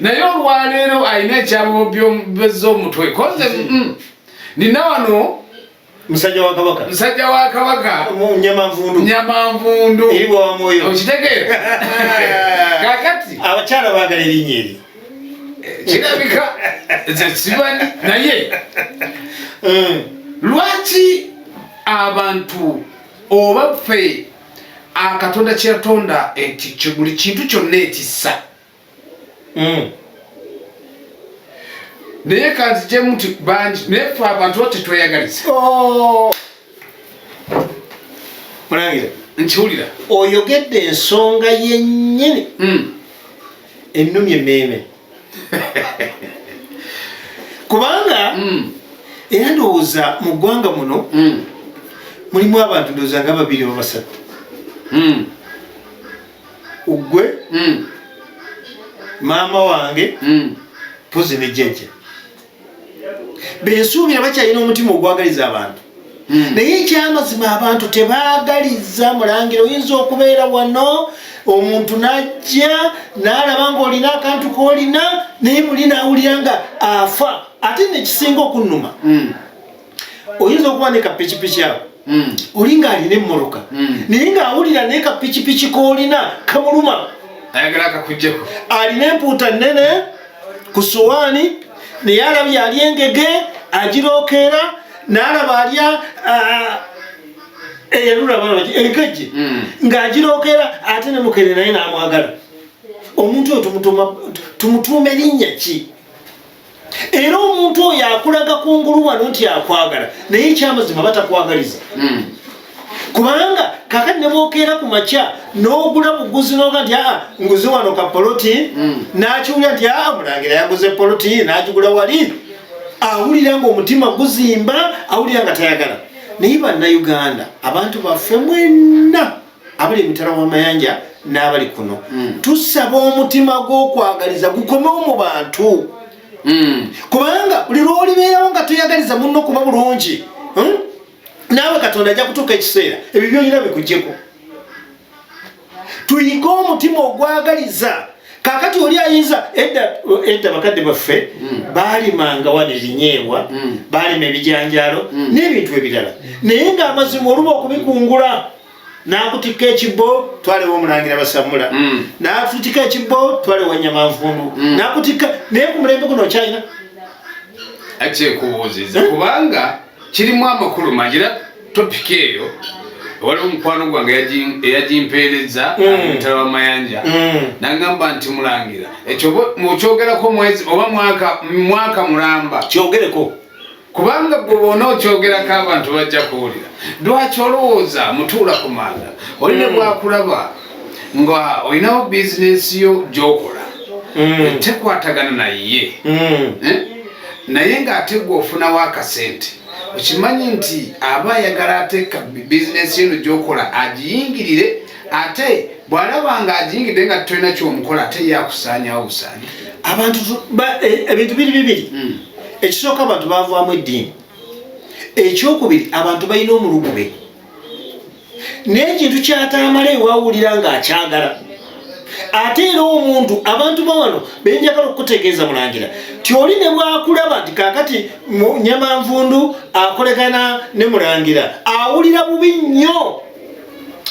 naye olwaleero alina ekyabobyobeza omutwe koze mm, nina wano musajja wa kabaka musajja wa kabaka nyamanvundu nyamanvundu eri bwa mwoyo okitegeera kakati abakyala bagala erinnya eri eh, kirabika zekimanyi naye mm. lwaki abantu oba ffe akatonda kyeyatonda ekyo buli kintu kyonna ekissa mm. naye kanzijemu nti bangi naye fe abantu tetweyagaliza oh. mulangira nkiwulira oyogedde ensonga yennyini mm. ennumi emmeeme kubanga mm. era ndowooza mu ggwanga muno mm. mulimu abantu ndowooza nga babiri babasatu mm. ugwe mm. maama wange mm. pozi ne jjajja bensuubira bakyalina omutima ogwagaliza abantu mm. naye ekyamazima abantu tebagaliza mulangira oyinza okubeera wano omuntu najja nalaba nga olina akantu kolina naye muli nawulira nga afa ate nekisinga okunuma mm. oyinza okuba ne kapikipiki awo hmm. oli ng'alina emmoloka hmm. naye ng'awulira naye kapikipiki k'olina kamuluma ayagala akakujjeko alina empuuta nnene ku sowaani naye alabye ali engege agirookeera n'alaba alya eyalulabalaki enkejje hmm. ng'agirookeera ate ne mukene naye n'amwagala omuntu oyo tumutuume linnya ki era omuntu oyo akulaga kungulu wano nti akwagala naye ekyamazima batakwagaliza hmm. kubanga kaka nebwokeera ku makya nogula buguzi noga nti aa nguzi wano ka poloti hmm. nakiwulira nti aa mulangira yaguze poloti nagigula wali awulira nga omutima guzimba awulira nga tayagala naye bannauganda abantu baffe mwenna abali emitala w'amayanja n'abali kuno hmm. tusaba omutima gw'okwagaliza gukomewo mu bantu hmm. kubanga buli lw'olibeerawo nga toyagaliza munno kuba bulungi hmm? naawe katonda ajja kutuuka ekiseera ebyo byolina bikugyeko tuyige omutima ogwagaliza kakati oli ayinza edda edda bakadde baffe hmm. baalimanga wano ebinyeebwa hmm. baalima ebijanjaalo hmm. n'ebintu ebirala naye ng'amazima oluba okubikungula nakutikka ekibbo twale womulangira basamula mm. natutika ekibbo twale wanyamanvundu mm. nakutikka naye ku mulembe guno okyalina akyekubuuziza kubanga kirimu amakulu mangi era topiki eyo waliwo omukwano gwange eyagimpeereza omutala mm. wa mayanja mm. nagamba nti mulangira ekyo okyogerako mwezi oba mwaka mulamba kyogereko kubanga gwe bona okyogerako abantu bajja kuwulira lwaki olowooza mutuula ku manda oli ne bwakulaba nga olinawo bizinesi yo gyokola mm. tekwatagana naye mm. eh? naye ng'ate gwe ofunawo akasente okimanyi nti aba ayagala ateeka bizinesi eno gyokola agiyingirire ate bw'alaba nga agiyingidde nga tolina kyomukola ate yakusaanyawo busaanya abantu e, ebintu biri bibiri mm. ekisooka abantu bavaamu eddiini ekyokubiri abantu balina omulugube n'ekintu kyataamala ewawulira ng'akyagala ate era omuntu abantu bawano benjagala okukutegeeza mulangira ti oli ne bwakulaba nti kakati nyamanvundu akolekana ne mulangira awulira bubi nnyo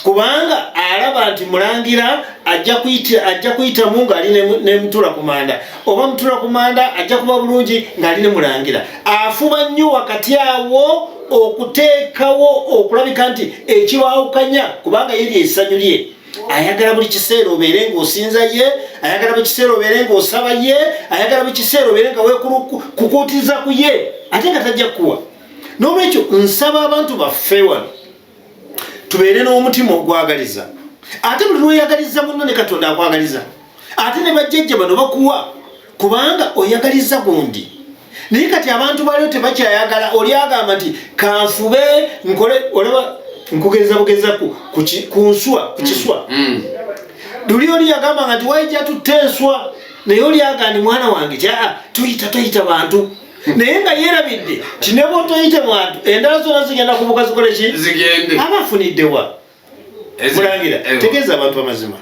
kubanga alaba nti mulangira ajja kuyita ajja kuyitamu ng'ali ne mutula ku manda oba mutula ku manda ajja kuba bulungi ng'ali ne mulangira afuba nnyo wakati awo okuteekawo okulabika nti ekibawukanya kubanga yeri esanyu lye ayagala buli kiseera obeere ng'osinza ye ayagala buli kiseera obeere ng'osaba ye ayagala buli kiseera obeere nga wekukuutiza ku ye ate nga tajja kukuwa n'olwekyo nsaba abantu baffe wano tubeere n'omutima ogwagaliza ate buli lwoyagaliza munno ne katonda akwagaliza ate ne bajjajja bano bakuwa kubanga oyagaliza gundi naye kati abantu baliyo tebakyayagala oli agamba nti kanfube nkole olaba nkugeza bugeza ku nswa ku kiswa mm, mm. luli oli yagamba nga nti waija tutte enswa naye oli agandi mwana wange kyaa tuyita tuyita bantu naye nga yerabidde ti ne bwotoyite mwantu endala zona zigenda kubuka zikole ki zigende aba afuniddewa mulangira eh. tegeeza abantu amazima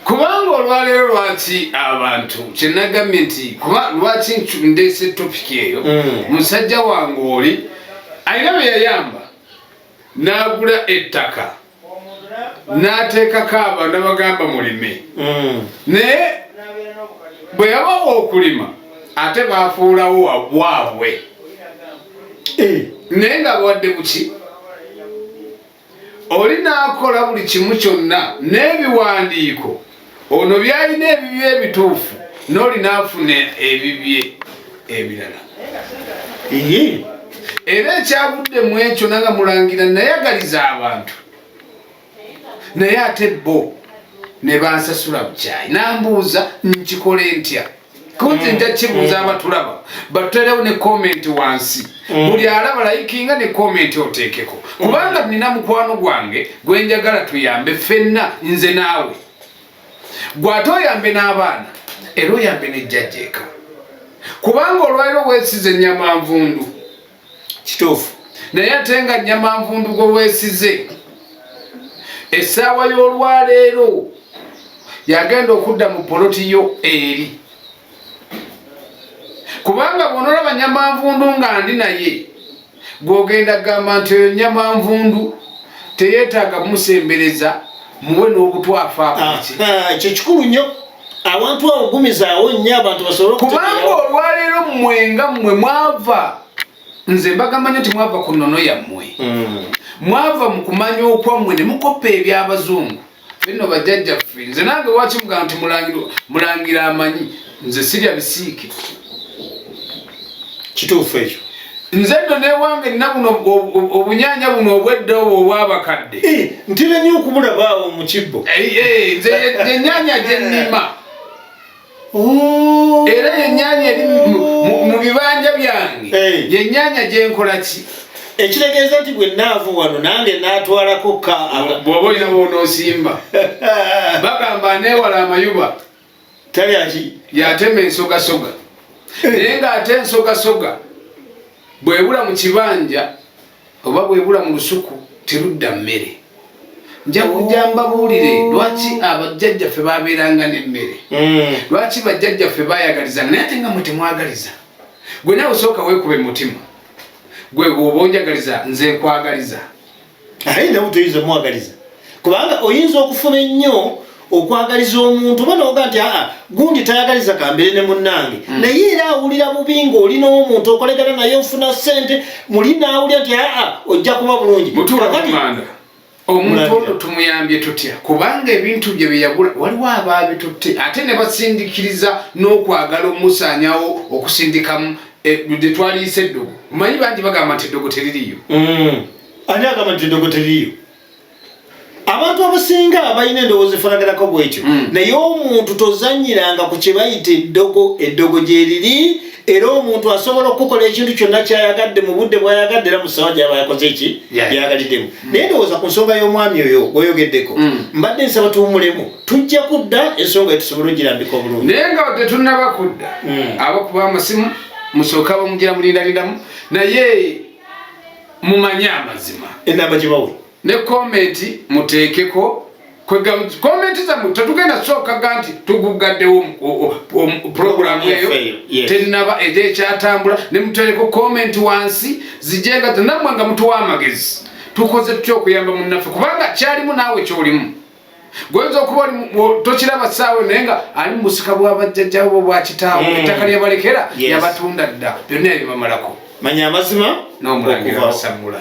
kubanga olwaleero lwaki abantu kyenagambye nti kuba lwaki ndeese topiki eyo mm. musajja wange oli alina beyayamba n'agula ettaka n'ateekako aba nabagamba mulime hmm. naye bwe yabawa okulima ate baafuulawo wabwabwe eh. naye nga bawadde buki oli n'akola buli kimu kyonna n'ebiwandiiko ono byalina ebibye ebituufu nolina afuna ebibye ebirala era ekyavudde mu ekyo nanga mulangira nayagaliza abantu naye ate bo ne bansasula bukyayi nambuuza nkikole ntya kunze nja kibuuza abatulaba batuterewo ne komenti wansi mm. buli alaba layikinga ne komenti oteekeko kubanga mm. nina mukwano gwange gwe njagala tuyambe fenna nze naawe gwate oyambe n'abaana era oyambe nejjajjeeka kubanga olwaliro wesize nyamanvundu kituufu naye ate nga nyama nvundu gwe weesize essaawa y'olwaleero yagenda okudda mu poloti yo eri kubanga bwonoolaba nyama nvundu nga ndi naye gwogenda kugamba nti oyo nyama nvundu teyeetaaga musembereza muwe n'obutwafaako ah, ah, ekyo kikulu nnyo awantu awo gumizaawo nnyo abantu basobole kubanga olwaleero mmwe nga mmwe mwava nze mbagamba nyo nti mwava ku nnono yammwe hmm. mwava mu kumanya okwammwe ne mukoppa eby'abazungu bino bajjajjaffe nze nange lwaki mugamba nti mulangira amanyi nze sirya bisiike kituufu ekyo nze nno newange nna buno obunyanya buno obwedda obwo obwabakadde eh, ntera nyo okubulabaawo mu kibbo eh, eh, nze yenyanya gyennima oh. era yenyanya eri mu bibanja byange yenyanya gyenkola ki ekitegeeza nti bwe naavu wano nange natwalako ka bwoba olina bwonosimba bagamba newala amayuba talyaki yatema ensogasoga eh. naye ng'ate ensogasoga bwebula mu kibanja oba bwebula mu lusuku terudda mmere nja kujja mbabuulire oh. lwaki abajjajjaffe babeeranga n'emmere hmm. lwaki bajjajjaffe bayagaliza naye ate nga mwe temwagaliza gwe nawe osooka weekuba emutima gwe bwoba onjagaliza nze nkwagaliza aye nawe toyinza omwagaliza kubanga oyinza okufuna ennyo okwagaliza omuntu oba noga nti aa gundi tayagaliza kambere ne munnange mm. naye era awulira bubi ngaoli n'omuntu okolegana naye ofuna sente muli naawulira nti aa ojja kuba bulungi omuntu ono tumuyambye tutya kubanga ebintu bye byeyagula waliwo abaabitutte ate ne basindikiriza n'okwagala omusaanyawo okusindikamu eh, gyetwaliyise eddogo omanyi bangi bagamba nti eddogo teririyo mm. ani agamba nti endogo teriyo abantu abasinga balina endowooza efanaganako bwekyo hmm. naye omuntu tozanyiranga ku kyebayita eddogo eddogo gyeriri era omuntu asobola okukola ekintu kyonna kyayagadde mu budde bwayagadde era musawa gyaba yakoze eki yagaliddemu hmm. naye ndowooza ku nsonga y'omwami oyo gweyogeddeko hmm. mbadde nsaba tuwumulemu tujja kudda ensonga etusobola ogirambika obulungi naye nga tetunaba kudda abakuba amasimu musooka bamugira mulindalindamu naye mumanye amazima enamba gyebawe ne komenti muteekeko komenti zamu tetugenda sookaga nti tuguggaddewo puroguramu eyo tennaba ejo ekyatambula ne muteereko komenti wansi zijenga namwe nga mutuwa amagezi tukoze tutya okuyamba munnaffe kubanga kyalimu naawe kyolimu goyinza okuba tokiraba saawe naye nga ali mubusika bwabajjajjabo bo bwakitaawo mm. ettaka lyebalekera yabatunda dda byonna ebibamalako manya amazima nomulangira basamula